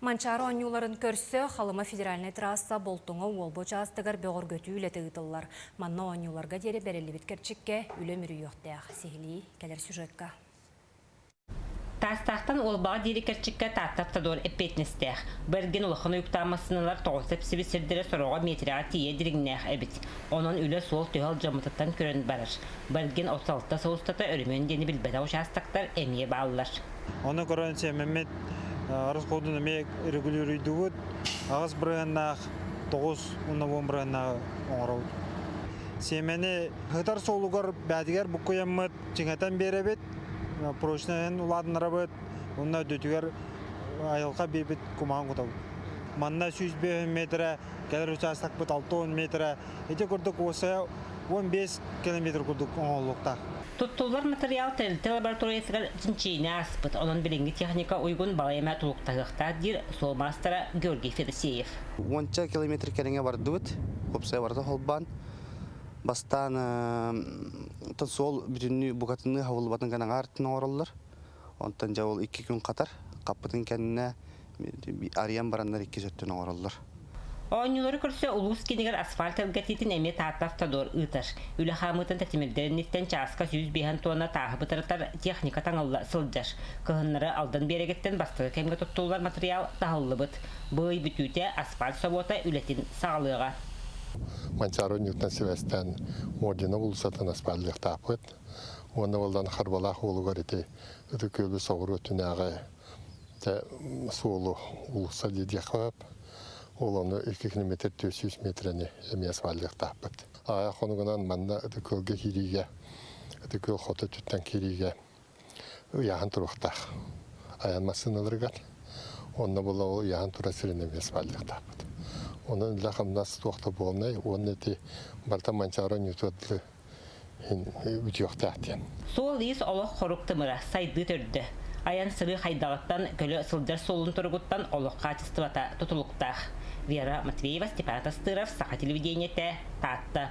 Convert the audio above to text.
Манчаары оонньууларын көрсө Халыма федеральнай трасса Болтуҥа Уолба учаастагар бөҕөргөтүү үлэтэ ыытыллар. Манна оонньууларга диэри бэриллибит кэрчиккэ үлэ мүрүйүөхтээх. Сиһилии кэлэр сюжетка. Таастаахтан Уолбаҕа диэри кэрчиккэ Таатта автодор эппиэтинэстээх. Бэргэн улахан уйуктаах массыыналар тоҕус сэпсибит сирдэрэ сороҕо метрэҕэ тиийэ дириҥнээх эбит. Онон үлэ суол-түһэ алдьаммытыттан көрөн барар. Бэргэн оту алта сыл устата өрөмүөн диэни билбэтэх учаастактар эмиэ бааллар. Ону көрөн сэмэммит арыс хоодун эмиэ регулируйдубут. Аҕыс бырыһыннаах тоҕус уонна уон бырыһыннааҕы оҥоробут. Сиэмэни ытар суолугар бээтигэр буккуйаммыт, чиҥэтэн биэрэбит, прочноһын улаатыннарабыт, уонна үрдүтүгэр айылҕа биэрбит кумаҕын кутабыт. Манна сүүс биэс метрэ, кэлэр учаастакпыт алта уон метрэ Ити курдук уопсайа уон биэс километр курдук оҥоһуллуохтаах. Туттуллар матырыйаал тэрилтэ лабораториятыгар чинчийинэ ааспыт, онон билиҥҥи техника уйгун балай эмэ тулуктаһыахтаах, диир суол маастара Георгий Федосеев. Уонча километр кэриҥэ бардыбыт, уопсайа барыта холбоон. Бастаан суол бүтүннүү букатынныы хабыллыбатын ган аҥаартан оҥороллор. Онтон дьэ ол икки күн хатар хаппытын кэннэ арыйан бараннар иккис өттүн оҥороллор. Оонньуулары көрсө улуус киинигэр асфальт элгэтиитин эмиэ Таатта автодор ыытар. Үлэ хаамыытын тэтимирдэр инниттэн чааска сүүс биэһэн туонна тааһы бытарытар техника таҥылла сылдьар. Кыһыннары Алдан биэрэгэттэн бастакы кэмҥэ туттуллар матырыйаал таһыллыбыт. Бу ый бүтүүтэ асфальт собуота үлэтин саҕалыаҕа. Манчаары оонньуутунан сибээстээн Мордина уулуссатын асфальтыахтаахпыт. уонна уоллан харбалаах уолугар ити ытыкыөлу соҕуру өттүнээҕи суолу уулусса дии диэххэ ол ону икки километр түөрт сүүс миэтэрэни эмиэ сваллыахтаахпыт аайа хонугунан манна ытыкыылга киириигэ ытыкыыл хоту өттүттэн киириигэ ыйааһын туруохтаах айан массыыналарыгар онно була ол ыйааһын турар сирин эмиэ сваллыахтаахпыт онон үлэ хамнас туох да буолнай уонна ити барыта манчаары ньютуордары үтүөхтээх диэн. Суол-иис олох-хорук тымыра сайдыы төрдө. Айан-сырыы хайдаҕыттан көлө сылдьар суолун туругуттан олох хаачыстыбата тутулуктаах. Вера Матвеева, Степан Атастыров, Саха телевидениетэ, Таатта.